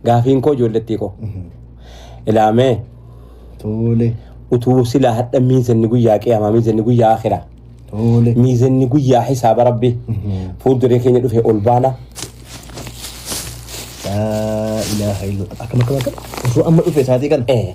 Gaafiin koo ijoollettii koo. Ilaamee Toole. utuu silaa hadha miizanni guyyaa qiyaamaa miizanni guyyaa akiraa. Toole. Miizanni guyyaa hisaaba rabbi. Fuulduree keenya dhufe ol baana. Laa ilaaha illa. Akkam akkam akkam. Osoo amma dhufe isaatii kana. Eh,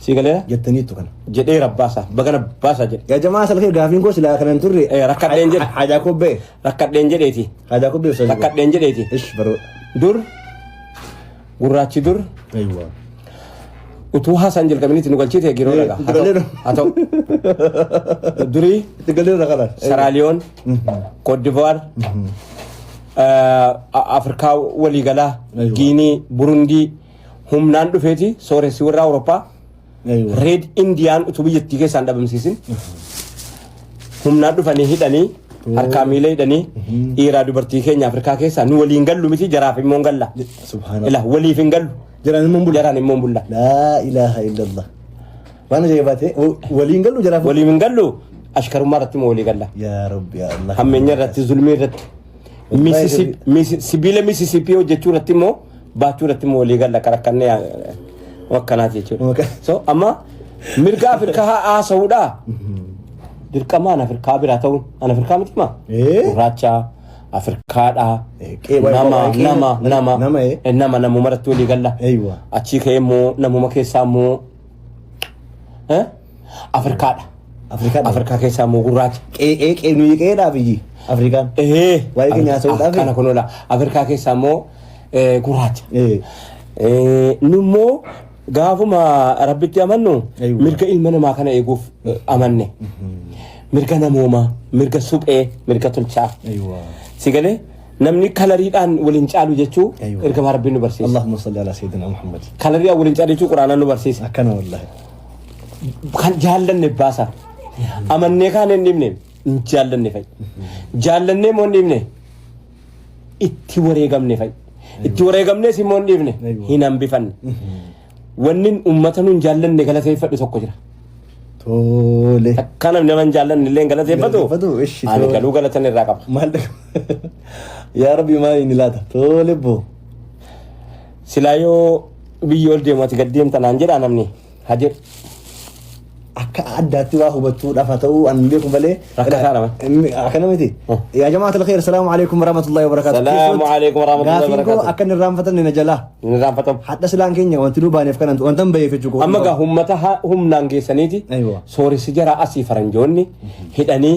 Sii galee jettaniittu kana. jedhee rabbaasaa baga rabbaasaa jedhe. Yaa jamaa salkee gaafiin koo silaa kana hin turre. Eh, rakkadheen jedhe. Haajaa kobbee. Rakkadheen jedheeti. Haajaa kobbee osoo. Rakkadheen jedheeti. Ish baroo. Dur gurraachi dur Aywa. utuu haasaan jalqabinitti nu galchiite giroo Eh, dhagaa. Haa ta'u- galeera. Haa ta'u. Durii Itti galee irra kana. Saraaliyoon, Koodivaar, Afrikaa waliigalaa, Aywa. Giinii, Burundii, humnaan dhufeeti sooressi warra Awurooppaa Aywa. reed Indiyaan utuu biyyattii keessaan dhabamsiisin humnaan dhufanii hidhanii harkaa miila hidhanii dhiiraa dubartii keenya Afrikaa keessaa nu waliin gallu miti jaraaf immoo hin galla. Subhaanallah. Ila waliif hin gallu Jiraan immoo bula. jaraan immoo hin bulla. Laa ilaaha illallah. Waan ajaa'ibaa ta'e wa- waliin gallu jaraaf. Waliif hin gallu ashkarummaa irratti immoo walii galla. Yaa Rabbi yaa Allah. Hammeenya irratti zulmii irratti. Wallahi Misisi- misi- Sibiila misisiipii hojjechuu irratti immoo baachuu irratti immoo walii galla qarakkannee wakkanaati jechuudha. So amma mirga Afrikaa haasa'uudha. Dirqamaan Afrikaa biraa ta'uun an Afrikaa miti maa? Eh? Gurraacha Afrikaadha. Eh, qe'ee Nama baay'ee nama qe'ee- nama nama, eh? eh, nama namuma irratti walii galla. Eeywa. Achii ka'ee immoo namuma keessaa immoo eh? Afrikaadha. Afrikaa Afrikaa keessaa immoo gurraacha. Qe'ee qe'ee nuyi qe'eedhaaf iyyii. Afrikaan. Ehee. Waa'ee keenya haasa'uudhaaf. Kana kun oola. Afrikaa keessaa immoo eh, gurraacha. Eh, Eh, Nu immoo gaafuma rabbitti amannu Eeywa. mirga ilma namaa kana eeguuf eh, amanne. Mirga namoomaa, mirga suphee, mirga tolchaa. Eeywa. Si galee namni kalariidhaan waliin caalu jechuu Eeywa. ergamaa rabbiin nu barsiisa. Allahumma salli ala sayyidina Muhammad. Kalariidhaan waliin caalu jechuu quraanaan nu barsiisa. Akkana wallahi. kan jaallanne baasa. Amannee kaan hin dhibne hin jaallanne fa'i. Jaallannee immoo hin dhibne itti wareegamne fa'i. Itti wareegamnees immoo hin dhibne hin hambifanne. Wanni uummata nuun jaallanne galateeffadhu tokko jira. Tole. Akka namni nama hin jaallanne illee hin galateeffatu Galateeffatu, ishi, ani tole. galuu galatan irraa qaba. Maal Yaa Rabbi maal inni laata? Tole boo. Silaa yoo biyyi ol deemu ati gad deemta naan jedhaa namni ha jedhu. Akka addaatti waa hubattuu dhafa ta'uu an beeku malee. Rakkataa dha bar. Akkana miti. Hmm. Yaa jamaa talqeer salaamu alaikum warahmatullahi wabarakatuh. Salaamu alaikum warahmatullahi Gaafiin koo wabarakatuh. akka inni irraanfatan na jalaa. Inni raanfatamu. Hadha silaan keenya wanti nu baaneef kanan wanta hin baheef jechuu Amma gaa ummata ha- humnaan geessaniiti Aywa. sooressi jara asii faranjoonni hidhanii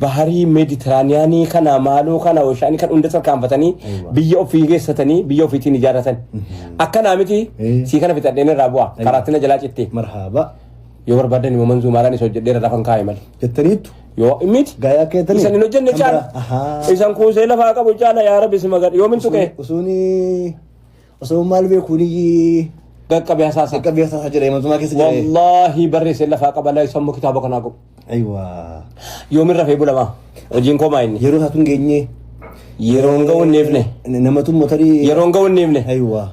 Baharii Meeditiraaniyaanii kana maaloo kana Oshaanii kan hunda tarkaanfatanii Eewwa. biyya ofii keessatanii biyya ofiitiin ijaarratan. Akkanaa miti Ee. sii kana fixadheen irraa bu'a. Ayyo. Karaattina jalaa cittee. marhaaba Yoo barbaadan immoo manzuu maalaan isa hojjedhee irraa kan kaa'e malee. jettaniittu Yoo miti. Gaayaa keetanii? Isan hin hojjenne Kan caala. biraa? Ahaa. Isan kuusee lafaa qabu caala yaa rabbi si magadha. Yoo min tuqee. usuuni Osoo maal beeku ni Qaqqabee hasaasa. qaqqabee hasaasa jira imaltumaa keessa jira. Wallaahi barreessee lafaa qaba laa sammuu kitaaba kanaa qabu. Aywa. Yoomin rafee bulamaa. Hojiin koo maa inni. Yeroo isaa tun geenye. Yeroon ga'u hin dhiifne. Namatu motarii. Yeroon ga'u hin dhiifne. Aywa.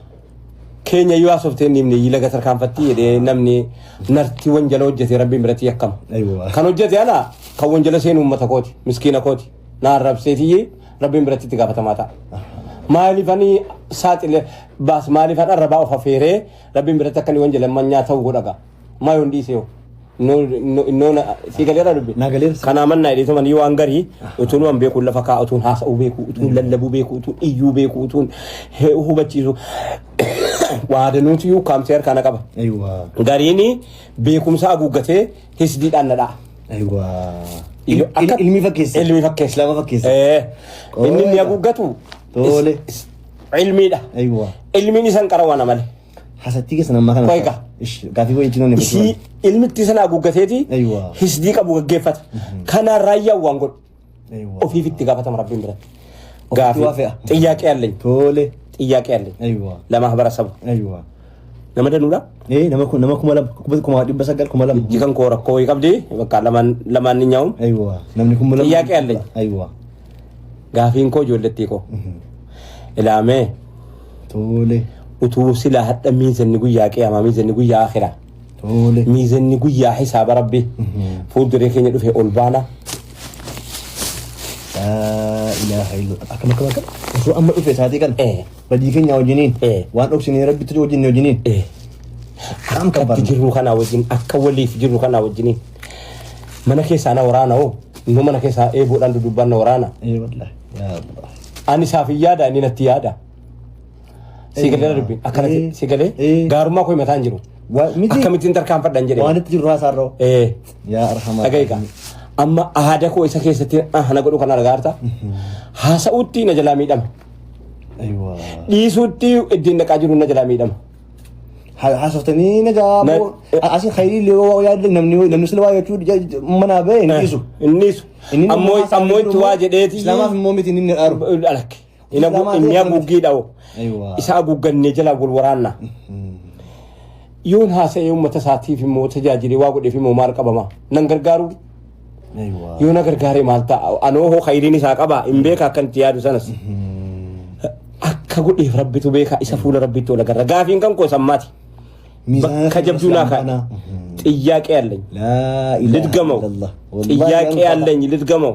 Keenya yoo haasofte hin dhiifne yii laga tarkaanfatti jedhee namni nartii wanjala hojjete rabbiin biratti yakkama. Aywa. Kan hojjete ala kan wanjala seenu uummata kooti miskiina kooti na arrabseetiyyi Rabbiin biratti itti gaafatamaa ta'a. Maaliif ani saaxile baas maaliif an arrabaa of afeeree rabbiin biratti akka inni waan jedhan manyaa ta'uu godhaga. Maa yoon dhiise yoo. Innoo sii galeera dubbi. Na galeera. Kanaa mannaa hidheetu manii waan garii utuun waan beekuun lafa kaa'u utuun haasa'uu beeku utuun lallabuu beeku utuun iyyuu beeku utuun he- hubachiisu. Waadanuutu yuu kaamsee harkaana qaba. Aywa. Gariin beekumsa haguuggatee hisdiidhaan na dha'a. Aywa. Iyo, Il- akka- Ilmi fakkeessa. Ilmi fakkeessa. Islaama fakkeessa. Eh, Qoodha. Inni inni haguuggatu Toole. is- is- ilmiidha. Aywa. Ilmiin isan qara waan amale. Hasattii keessan ammaa kana. Qoyqa. Ish, Gaafii qoyii itti namni Isii ilmitti sana haguuggateeti Aywa. hisdii qabu gaggeeffata. Kanaan raayyaan waan godhu. ofiif itti gaafatama rabbiin biratti. Gaafii waa fe'a. xiyyaaqee alleenya. Tole. Xiyyaaqee alleenya. Aywa. Lama habara sabu. Aywa. Nama danuudha. Eh nama kun nama kuma lama kuma kuma dhibba sagal kuma lama. Jikan koo rakkoo wayii qabdi bakka lamaan lamaan ni nyaa'uun. Aywa. Namni kuma lama. Xiyyaaqee alleenya. Aywa. Gaafiin koo ijoollettii koo. Ilaamee Tole. utuu silaa hadha miinsanni guyyaa qiyaamaa miinsanni guyyaa akhiraa. Tole. Miizanni guyyaa hisaaba rabbi fuulduree keenya dhufe ol baana. Laa ilaaha illallah. Akkam akkam akkam. Osoo amma dhufe isaatii kana. Eh. Badii keenya wajjiniin. Eh. Waan dhoksinee rabbitti wajjin wajjiniin. Eh, Kam kan Akkatti barna. jirru kanaa wajjin akka waliif jirru kanaa wajjiniin mana keessaa na waraana hoo nu mana keessaa eeboodhaan dudubbanna waraana Eh wallahi. Yaa Allah. ani isaaf hin yaada inni natti yaada. Si galee darbi. Akkana si- si galee Eh. gaarummaa koo mataan jiru. Wa- miti. Akkamittiin tarkaanfadhan jedhee. Waan itti jiru haasaa irra. Eh. Yaa arhamaa. Dhaga'iika. Amma aada koo isa keessatti ah, na godhu kan argaarta. Haasa'uutti na jalaa miidhama. Aywa. Dhiisuutti ittiin dhaqaa jiru na jalaa miidhama. Ha- Haasoftanii na jaa. Na- boo- a- Asii khayrii illee waa yaadde namni namni sila waa jechuu ja- ja- manaa ba'e hin dhiisu. Inni dhiisu. Inni Ammoo haasaa ammoo itti jiru waa immoo jedheeti. Islaamaaf immoo miti inni dhaaru. Alakki. Inni Islamaa ta'e inni akkamitti? haguuggii dha'u. Eewwaa. Isa haguuggannee jalaa wal waraanna. Yoon haasa'ee uummata isaatiif immoo tajaajilee waa godheef immoo maal qabama? Nan gargaaru Eewwaa. yoo na gargaare maal ta'a? Anoo hoo khayriin isaa qaba hin beeka akkan itti yaadu sanas. Akka godheef rabbitu beeka isa fuula rabbitti ol agarra. Gaafiin kan koo sammaati. Miizaana Bakka kan jabduu naa Islamaa kaa'e. kana. Xiyyaaqee alleenyi. Laa ilaaha Lidgamaw. illallah. Wallaahi Xiyyaaqee waan qaba. alleenyi lidgamaw.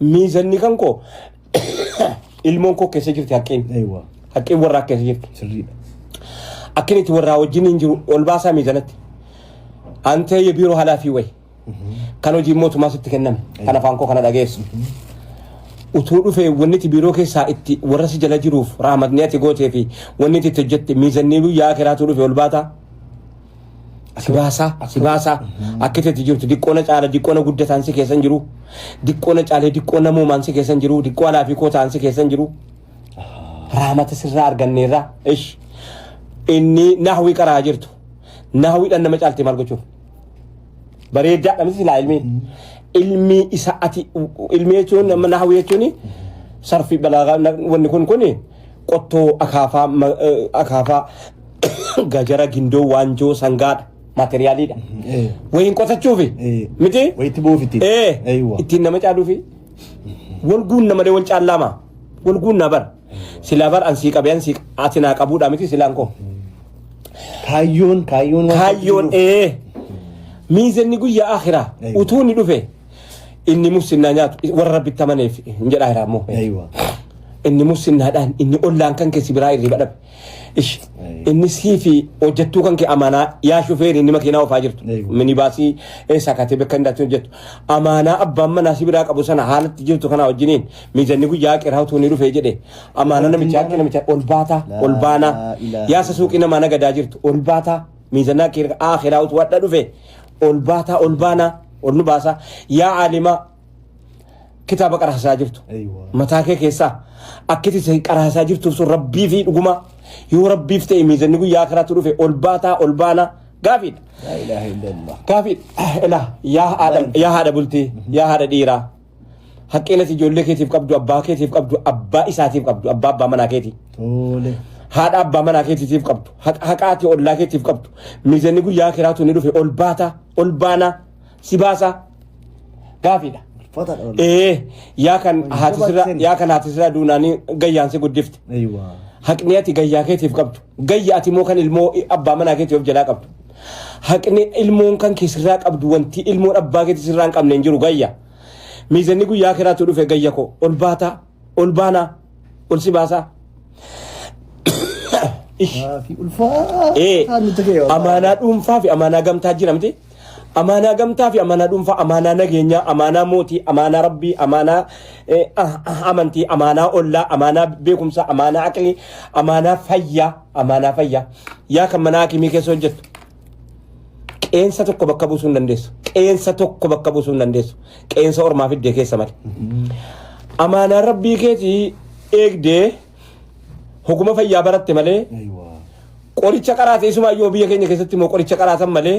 Miizanni kan koo ilmoon koo keessa jirti haqqeen. Eewwa. Haqqeen warraa keessa jirti. Sirriidha. Akkin itti warraa wajjin hin jiru ol baasaa miizanatti. Antee ye biiroo haalaa fi wayi. Kan hojii mootummaa sitti kenname. Kan afaan koo kana dhageessu. Utuu dhufee wanni itti biiroo keessaa itti warra si jala jiruuf raamatni ati gootee fi wanni itti itti hojjette miizannii guyyaa akiraatuu dhufe ol baataa. Si baasaa, si baasaa. Akka itti jirtu diqqoona caala, diqqoona guddataan si keessan jiru. Diqqoona caalee diqqoo namoomaan si keessan jiru. Diqqoo alaa fi kootaan si keessan jiru. Raamata sirraa arganneerra. Ish. Inni nahwii qaraa jirtu. Nahwiidhaan nama caalti maal gochuuf? Bareeddaadha miti silaa ilmi. Ilmi isa ati ilmi jechuun nama nahwii jechuun sarfii balaagaa wanni kun kuni qottoo, akaafaa, ma- eh, akaafaa, gajara, gindoo, waanjoo, sangaadha. Maateriyaaliidha. Eh. Wayiin qotachuufi. Eh. Miti? Wayitti buufiti. Ee. Eeywa. Ittiin nama caaluufi. Wal guunna malee wal caallaama. Wal guunna bar. Silaa bar ansii qabee ansii ati naa qabuudha miti silaan koo. Kaayyoon kaayyoon waan Kaayyoon jiruuf. ee. Miizanni guyyaa akhiraa Eeywa. utuu ni dhufe inni muslimaa nyaatu warra rabbitti amaneef hin jedhaa jiraa immoo Aywa. inni muslimaadhaan inni ollaan kan keessi biraa irriba dhabe ish inni sii fi hojjettuu kan kee amaanaa yaa shufeeri inni makiinaa ofaa jirtu Eeyyuu. minibaasii eessaa kaatee bakka hin daatiin hojjettu amaanaa abbaan manaa si biraa qabu sana haalatti jirtu kanaa wajjiniin mijanni guyyaa qiraa utuu ni dhufee jedhe amaanaa namichaa akka namichaa ol baataa ol baanaa Laa ilaaha yaasa suuqii namaa nagadaa jirtu ol baataa miizanaa kee akhiraa utuu wadha dhufe ol baataa ol baanaa ol nu baasaa yaa aalimaa kitaaba qaraasaa jirtu Eeywa. mataa kee keessaa akkati isa qaraasaa jirtuuf sun rabbii fi dhugumaa yoo rabbiif ta'e miizanni guyyaa karaatu dhufe ol baataa ol baanaa gaafiidha Laa ilaaha illallah. gaafiidha ilaa yaa haadha yaa haadha bultii yaa haadha dhiiraa Haqqeen ati ijoollee keetiif qabdu, abbaa keetiif qabdu, abbaa isaatiif qabdu, abbaa abbaa manaa keetii. Tole. Haadha abbaa manaa keetiitiif qabdu, haqa haqaa ati ollaa keetiif qabdu. Miizanni guyyaa kiraatu ni dhufe ol baataa, ol baanaa, si baasaa. Gaafiidha. Ulfaataadha wal. Ee, yaa kan Wal haati sirraa, dabarsin. yaa kan haati sirraa duunaanii gayyaan si guddifte. Eeywa. Haqni ati gayyaa keetiif qabdu, gayya ati immoo kan ilmoo abbaa manaa keetiif jalaa qabdu. Haqni ilmoon kan kee sirraa qabdu wantii ilmoon abbaa keetii sirraa hin qabne hin jiru gayya. Miizanni guyyaa kiraatu dhufe gayya koo ol baataa ol baanaa ol si baasaa. Fi ulfaa. Ee, Haa nuti ga'e. amaanaa dhuunfaa fi amaanaa gamtaa jira miti. Amaanaa gamtaa fi amaanaa dhuunfaa, amaanaa nageenyaa, amaanaa mootii, amaanaa rabbii, amaanaa eh, ah, ah, amantii, amaanaa ollaa, amaanaa beekumsaa, amaanaa aqlii, amaanaa fayyaa. amaanaa fayyaa yaa kan manaa akimii keessa hojjettu qeensa tokko bakka buusuu hin dandeessu qeensa tokko bakka buusuu hin dandeessu qeensa ormaa fiddee keessa male amaanaa rabbii keetii eegdee hoguma fayyaa baratte malee Aywa. qoricha qaraate isumaayyuu biyya keenya keessatti immoo qoricha qaraatan malee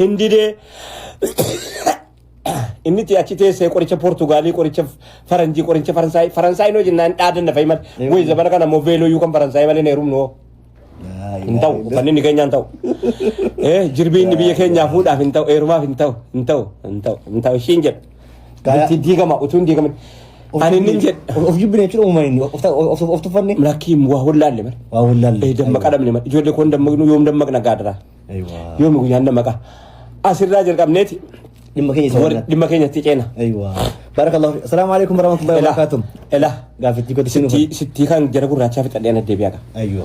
hin didee inni itti achi teessee qoricha Poortugaalii qoricha Faranjii qoricha Faransaay Faransaay noo jennaan dhaadanna fa'i malee Eeyyuu. wayii zabana kana immoo veeloo yuu kan Faransaay malee hin heerumnu hoo hin ta'u uffanni inni keenyaa hin ta'u Eh, jirbii inni biyya keenyaa fuudhaaf hin ta'u heerumaaf hin ta'u hin ta'u hin ta'u hin ta'u ishiin jedha Gaaya- Bultii diigama utuu hin diigamin ani inni hin jedha Of jibbine jechuun uumama inni. Of- of- Of tuffanne. lakkiin waa hollaalle mara waa wallaalle. Eh, dammaqaa dhabne mara ijoollee koon dammaqnu yoom dammaqna gaadara Yoomi guyyaan dammaqaa. Asirraa jalqabneeti dhimma keenya isa warri- waliin. dhimma keenyatti ceena. Aywa. Barakallahu fi. Assalamu alaikum warahmatullahi Ela, wabarakatuh. ela, Gaaffitti godhi sinu. sittii sittii kan jara gurraachaa fixadhee ana deebi'aadha. Aywa.